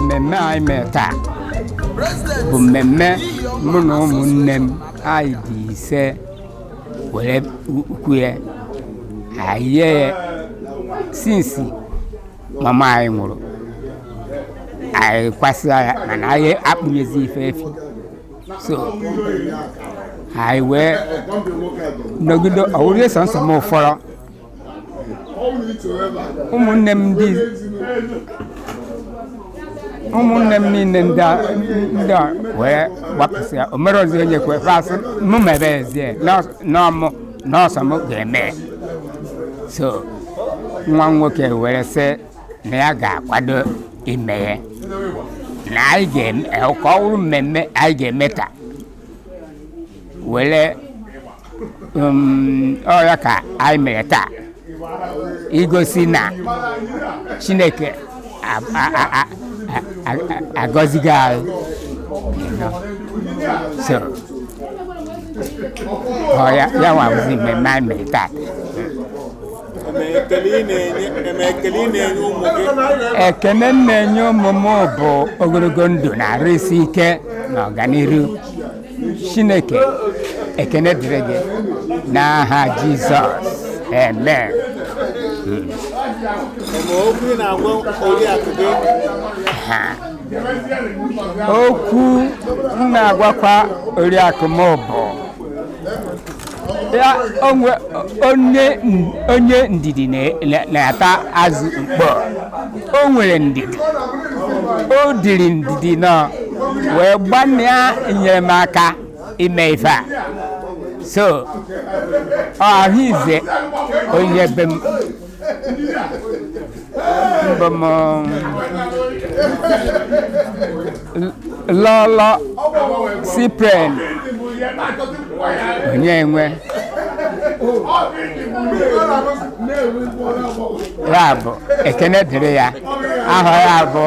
mmemme anyị mere taa bụ mmemme mụ na ụmụnne m anyị dị ise were kwue ya anyị yie ya sinsi mama anyị nwụrụ anyị kwasịa ya mana anyị akpụnyezi ife efi so anyị wee nọgide ọ wụrụ sọnsọ mụ fọrọ ụmụnne m ndị ụmụnne m niile ndị a- ndị a wee gbapụsịa o mere ozi onye kwe fasị mụ mebezie n'ọ mụ nọsọ m ga-eme so nwa m nwoke were sị na ya ga-akwado ime ya na anyị ga-eme ka ọ bụrụ mmemme anyị ga-eme taa were um, ọ ya ka anyị mere taa igosi na chineke agọzigo anyị so ọ ya nwa bụzi mmemme anyị mere taa ekene m na-enye ụmụ m bụ ogologo ndụ na arụ isi ike na ọganiru chineke ekene dịrị gị n'aha jizọs amen okwu m na-agwakwa oriakụ m bụ onye ndidi na-ata azụ mkpọ o nwere ndidi o diri ndidi nọ wee gbanịa enye m aka ime ife a so ọ ahụ ize onye be m bụ m lọlọ cyprian onyenwe ya bụ ekene dịrị ya aha ya bụ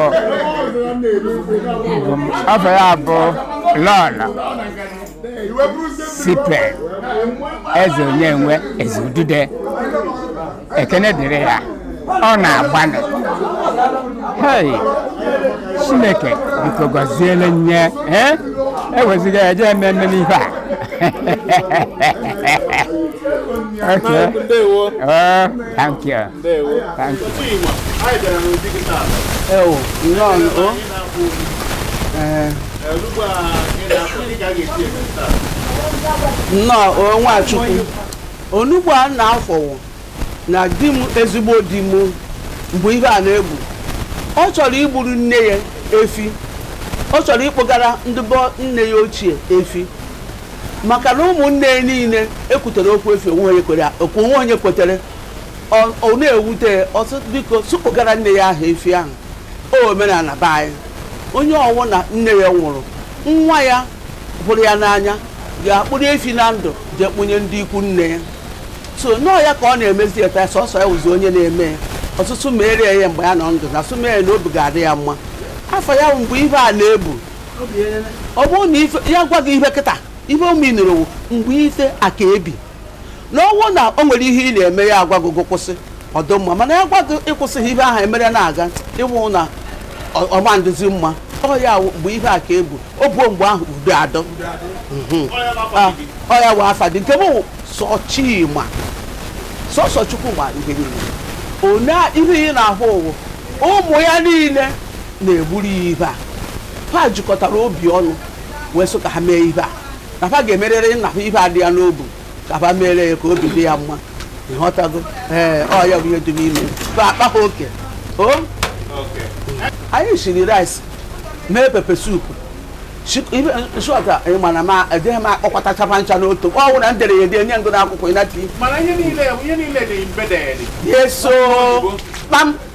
afa ya bụ lọlọ sipe eze onyenwe eze udude ekene dịrị ya ọ na-agbanị hei chineke biko gọziele nye eh? eweziga ya jee ememe n'ife a okay. Oh, thank you. nnọọ o nwachukwu onugbu a na-afọwụ na di m ezigbo di m mgbe ihe a na-ebu ọ chọrọ igburu nne ya efi ọ chọrọ ịkpụgara ndị be nne ya ochie efi maka na ụmụnne ya niile ekwutere okwu efi o nwe onye kwere- o nwe onye kwetere Ọ- ọ na-ewute ya, ọ sị biko sụ kpụgara nne ya ahụ efi ahụ o omenala be anyị onye ọwụ na nne ya nwụrụ nwa ya hụrụ ya n'anya ga-akpụrụ efi na ndụ jee kpụnye ndị ikwu nne ya so na ọ ya ka ọ na-emezi kịta sọsọ ya wụzi onye na-eme ya ọ sụ sụ meere ya ihe mgbe ya nọ ndụ na sụ mee ya na obi ga-adị ya mma afa ya wụ mgbe ihe a na-ebu ọ bụrụ na ife- ya gwa gị ihe kịta ife ọma ị nụrụ ọ wụ mgbe ife a ka ebi na ọ wụ na o nwere ihe ị na-eme ya agwa gị gị kwụsị ọ dụ mma mana ya gwa gị ị kwụsịghị ihe ahụ emere na-aga ị hụ na ọ- ọ ma ndịzi mma ọ ya wụ mgbe ihe a ka ebu o buo mgbe ahụ udo adọ Mhm. Ah, ọ ya wụ afa dị nke m wụ sọ chima sọsọ chukwu ma ihe niile one ihe ị na-ahụ ọ wụ ụmụ ya niile na-egburu ya ihe a ha jikọtara obi ọnụ wee sị ka ha mee ihe a na fa ga-emerịrị nna fa ife a dị ya n'obu ka fa mere ya ka obi dị ya mma ịghọtago ee ọ ya bụ ihe dị n'ime fa akpa ha oke o anyị siri rice mee pepe soup shọta ị mana ma ejeghị m akpọkọtacha fa ncha n'otu ọ bụrụ na m dere ya ede nye gụ n'akwụkwọ ịnati mana ihe niile ihe niile dị embedded yes o kpam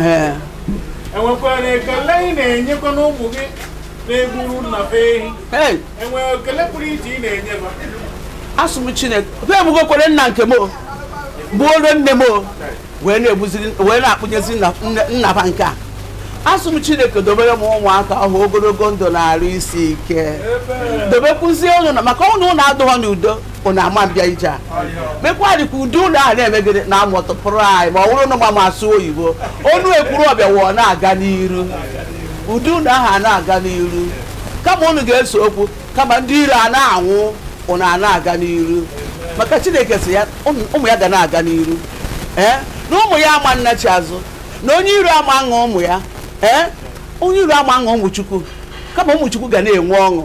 ee e nwekwara ekele ị na-enyekwanụ ụmụ gị na-egburu nna be ehi ee e nwere ekele pụrụ iche ị na-enye ha asụ m chineke fa egbugokwere nna nke m o. gbuoro nne m o. wee na-egbuziri wee na-akpụnyezi nna- nne- nna ba nke a asụ m chineke dobere m ụmụaka ahụ ogologo ndụ na arụ isi ike dobekwuzie ụnụ na maka ụnụ ụnụ adụghọ n'udo ụnụ ama mbịa ije a mekwa dịka ụdị ụlọ a na-emegide na amụtụpụrụ anyị ma ọ bụrụ na mama asụ oyibo onu ekwuru ọbịa wụọ na-aga n'iru ụdị ụlọ ahụ a na-aga n'iru kama unu ga-ese okwu kama ndị iro a na-anwụ ụnụ a na-aga n'iru maka chineke sị ya ụmụ ụmụ ya ga na-aga n'iru ee na ụmụ ya ama nnachi azụ na onye iro ama aṅụ ụmụ ya ee onye iro ama aṅụ ụmụ chukwu kama ụmụ chukwu ga na-enwe ọṅụ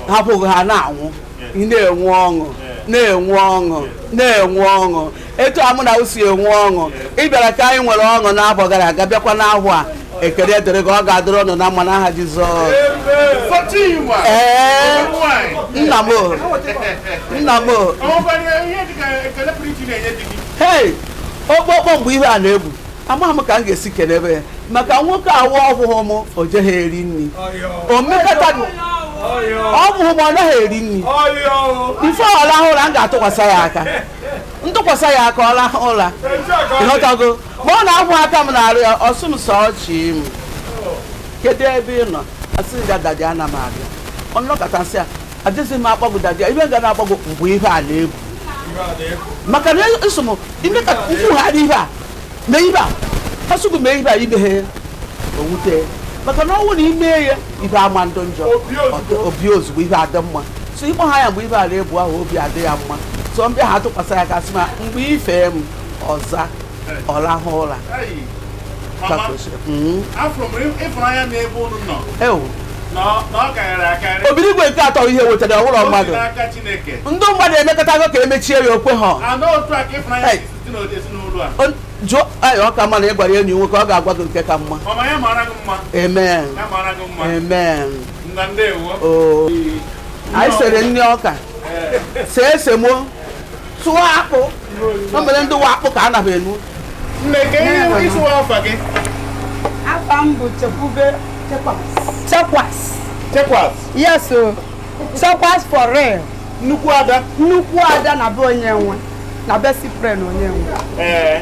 hapụghị ha na-anwụ ị na-enwe ọṅụ na-enwe ọṅụ na-enwe ọṅụ etu a mụ na unu si enwe ọṅụ ị bịara ka anyị nwere ọṅụ n'afọ gara aga bịakwa n'afọ a ekele dịrị gị ọ ga-adịrị unu na mma n'aha Jizọs ee nna m nna m hei okpokpo mgbe ihe a na-egbu amaghị m ka m ga-esi kelebe ya maka nwoke ahụ ọ hụhụ m o jeghị eri nri o mekata ọ bụghị m ọ naghị eri nri before ọ rahụ ụra m ga-atụkwasị ya aka m tụkwasị ya aka ọ rahụ ụra ịghọtago ma ọ na-ahụ aka m n'arụ ya ọ sị m sọchi m kedu ebe ị nọ asị ya dadi ana m abịa ọ nọkata sị ya adịghị m akpọ gị dadi ya ibe ga na-akpọ gị mgbe ihe a na-egbu maka na eso m ime ka m kwugharị ihe a na ibe a asụgụ mee ibe a imeghe ya owute ya maka na ọnwụ na ime ya ibe ama ndụ njọ obi ozugbo ibe adị mma so ịkpọ ha ya mgbe ibe a na-egbu ahụ obi adị ya mma so m bịa ha tụkwasị ya aka sị ma mgbe ifee m ọ za ọ lahụ ụra Mama, mm-hmm. afụ m ịfụnanya n'ebe unu nọ na ọ karịrị akarị obi n'igwe nke atọ ihe wetara ọ wụrụ mmadụ ndị mmadụ emekatago ka emechie ya o kwehe jụọ anyị ọ ka mma na ị gwara enyi nwoke ọ ga-agwa gị nke ka mma amen amen anyị sere ndị ọka see esemokwu sụọ akpụ o mere ndị wa akpụ ka a naghị enu nne ka ihe ị sị wụ afa gị afa m bụ chekwube chekwas chekwas chekwas yes o chekwas for real nnukwu ada nnukwu ada na be Onyenwe na be Cyprian Onyenwe ee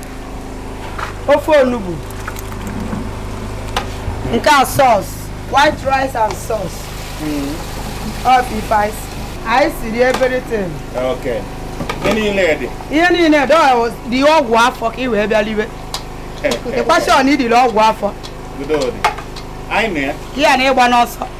ofe onugbu nke a sauce white rice and sauce ọ bụ ife anyị si. anyị siri everything Okay. Ihe niile dị. ihe niile dị ọ dị ọgwụ afọ ka ị wee bịa liwe i kwesị ọ na idiri ọgwụ afọ Udo dị. Anyị na ya. ka ya na ịgba n'ọsọ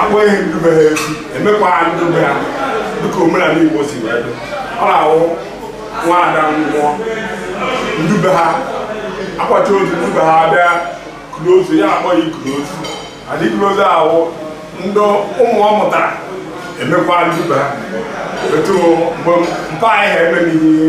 akpọghị ndị be ha efi emekwa ha ndị be ha dịka omenala igbo si wee dị ọ na-awụ nwaada nwụọ ndị be ha akwacha ozu ndị be ha bịa kuru ozu ya akpọ ya ikuru ozu adị ikuru ozu ahụ ndị ụmụ ọ mụtara emekwa ndị be ha etu mgbe mpa anyị ha eme n'ihe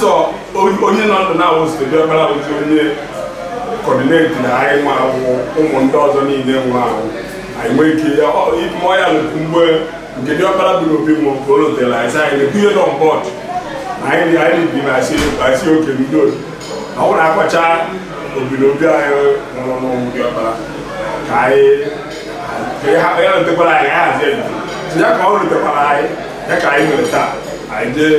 so onye nọ ndụ na-awụ diọkpara awụzi onye coordinating anyị nwa awụ ụmụ ndị ọzọ niile nwa awụ anyị nwee ike ya ịmụọ ya lụkwu mgbe nke diọkpara bụ n'obi mụ ka o lotere anyị sị anyị na-ekwunye on board anyị anyị bi na asị asị okay ndị otu na ọ na-akọcha obi na obi anyị nwụrụ n'ụmụ diọkpara ka anyị ka ya ya lotekwara anyị anyị hazie ya ka ọ lotekwara anyị ya ka anyị nwere taa anyị jee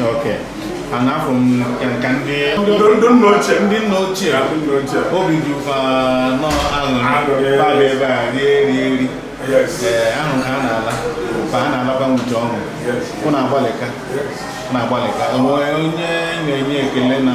Okay. And now from ka ka ndị ndị nna ochie. Ndị nna ochie. Ndị nna ochie. Obi dị fa n'aṅụlị. Ba be ba ri ri ri. Yes. Eh aṅụ ka a na-ala. Fa na-ala ba n'ọṅụ. Yes. Fụ na ọ gbalịka. Yes. Na ọ gbalịka. O nwe onye na-enye ekele na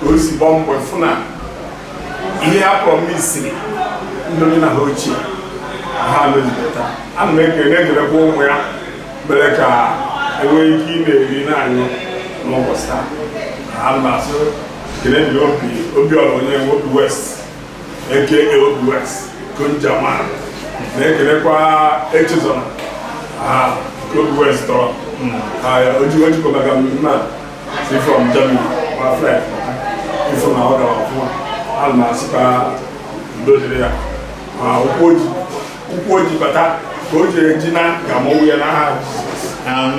ka o si gbaa mbọ fụ na ihe ha promisiri ndị nna ha ochie ha mezipụta ana m ekele na-ekelekwa ụmụ ya mere ka e nwee ike ịna-eri na-aṅụ n'ụbọchị taa ana m asị ekele dị Obi Obiọra Onyenwe Obi West eke Obi West Konjama na-ekelekwa Echezọna ha Obi West tọrọ ha ojikọtaga m na ụkwụ o ji bata ka ọ ga-eji naa ka mọnwụ ya n'aha Jizọs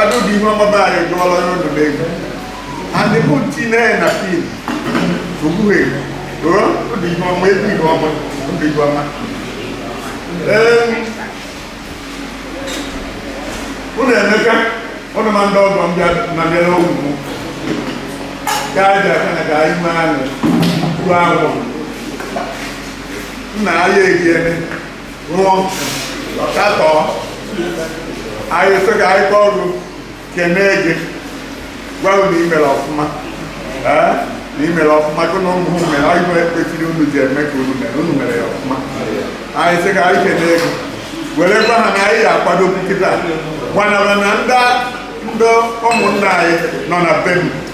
Adudu ihe ọma be anyị gụọla onye ọdụ n'egwu adị bụ nti na na fim ogbuhe ruo obi ihe ọma egwu ihe ọma obi ihe ọma Em, unu emeka unu ma ndị ọgọ m bịa na bịa n'ogwu m ka a ji aka na ka anyị mee anụ ruo anwụ nna anyị egiene nwụọ katọọ anyị sị ka anyị kọọ gị kenee gị gwa na i mere ọfụma ee na i mere ọfụma gị na ụmụ mere anyị bụ kwesịrị unu ji eme ka unu mere unu mere ya ọfụma anyị sị ka anyị kenee gị were gwa ha na anyị ga-akwado kịta gbanara na ndị ndị ụmụnna anyị nọ na be m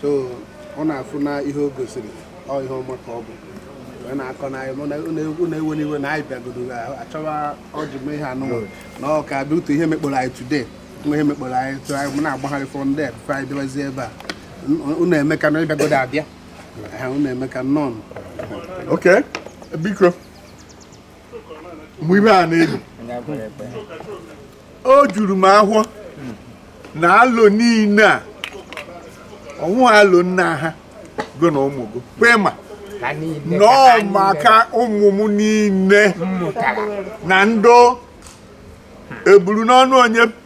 so ọ na-afụ na ihe o gosiri ọ ihe ọma ka ọ bụ wee na-akọ unu ewena iwe na anyị bịagodo achọwa ọjị m ihe anụnwụ na ọ ka bịa otu ihe mekpọrọ anyị today nwa ihe mekpọrọ anyị tụ anyị m na-agbagharị for ndị a before anyị bịawazie ebe a unu emeka na ị bịagodo abịa ha unu emeka nnọọ okay biko mgbe ihe a na-ebi o juru m ahọ na alo niile a ọnwụ alo nna ha go na ụmụ gị kwe ma nọọ maka ụmụ m niile na ndị eburu n'ọnụ onye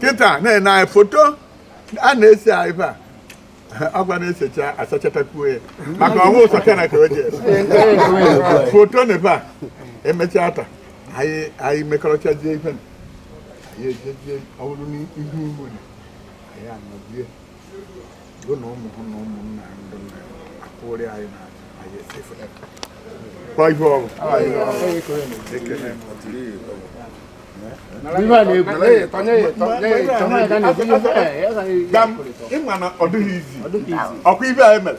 kịta na-ene anyị foto a na-ese anyị ebe a a ga na-esecha asachatakwuo ya maka ọnwụ ụsọ kana ka o ji ese foto na ebe a emechaa taa anyị anyị mekọrọchazie ife na anyị ejezie ọhụrụ n'ihu ugbo na anyị anọzie ị ma na ọ dịghị easy ọ kwa ihe anyị mere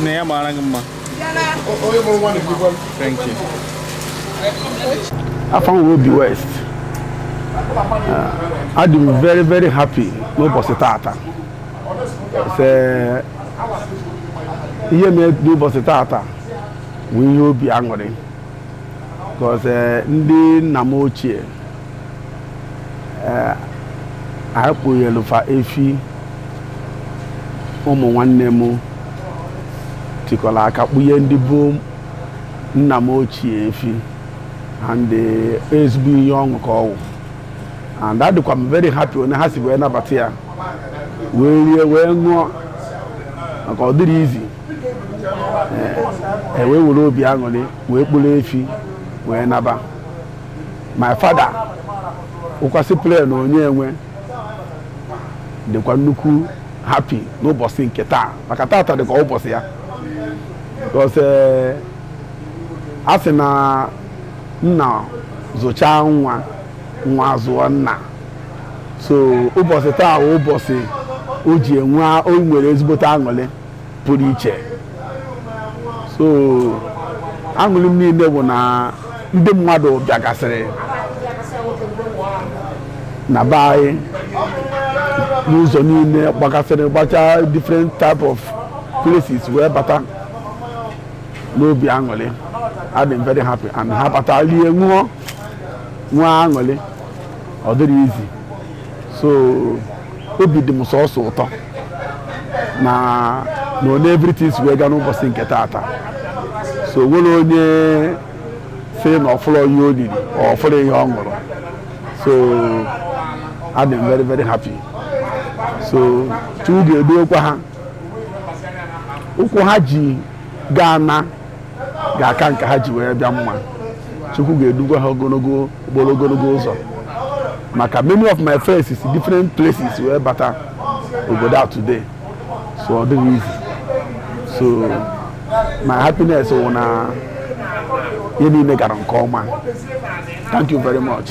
nne ya mara gị mma thank you afa m wụ Obi West ah, adị m very very happy n'ụbọchị tata ihe mee n'ụbọchị tata bụ ihe obi aṅụrị because eh, ndị nna m ochie ee a kpụnyelu fa efi ụmụ nwanne m tikọrọ aka kpụnye ndị bụ nna m ochie efi and eh, ezigbo ihe ọṅụ ka ọ wụ and adịkwa m very happy onye ha si wee nabata ya wee rie wee ṅụọ maka ọ dịrọ easy e wee were obi aṅụrị wee kpụrụ efi wee naba my father wụkwa Cyprian Onyenwe dịkwa nnukwu happy n'ụbọchị nke taa maka tata dịkwa ụbọchị ya because eh, a sị na nna zụchaa nwa nwa zụọ nna so ụbọchị taa bụ ụbọchị o ji enwe o nwere ezigbote aṅụrị pụrụ iche so aṅụrị m niile bụ na ndị mmadụ bịagasịrị na be anyị n'ụzọ niile gbagasịrị gbachaa different type of places wee bata n'obi aṅụrị adị m very happy and ha bata rie ṅụọ nwee aṅụrị ọ dịrọ easy so obi dị m sọsọ ụtọ na na onye everything si wee gaa n'ụbọchị nke taata so nwerọ onye sị na ọ fụrọ ihe o riri ọ fụrọ ihe ọ ṅụrụ so adị m very very happy so chukwu ga-eduokwa ha ụkwụ ha ji ga-ana ga-aka nke ha ji wee bịa mma chukwu ga-edukwa ha gbara ogologo ụzọ maka many of my friends si different places wee bata obodo a today so ọ dịghị easy so my happiness wụ na ihe niile gara nke ọma thank you very much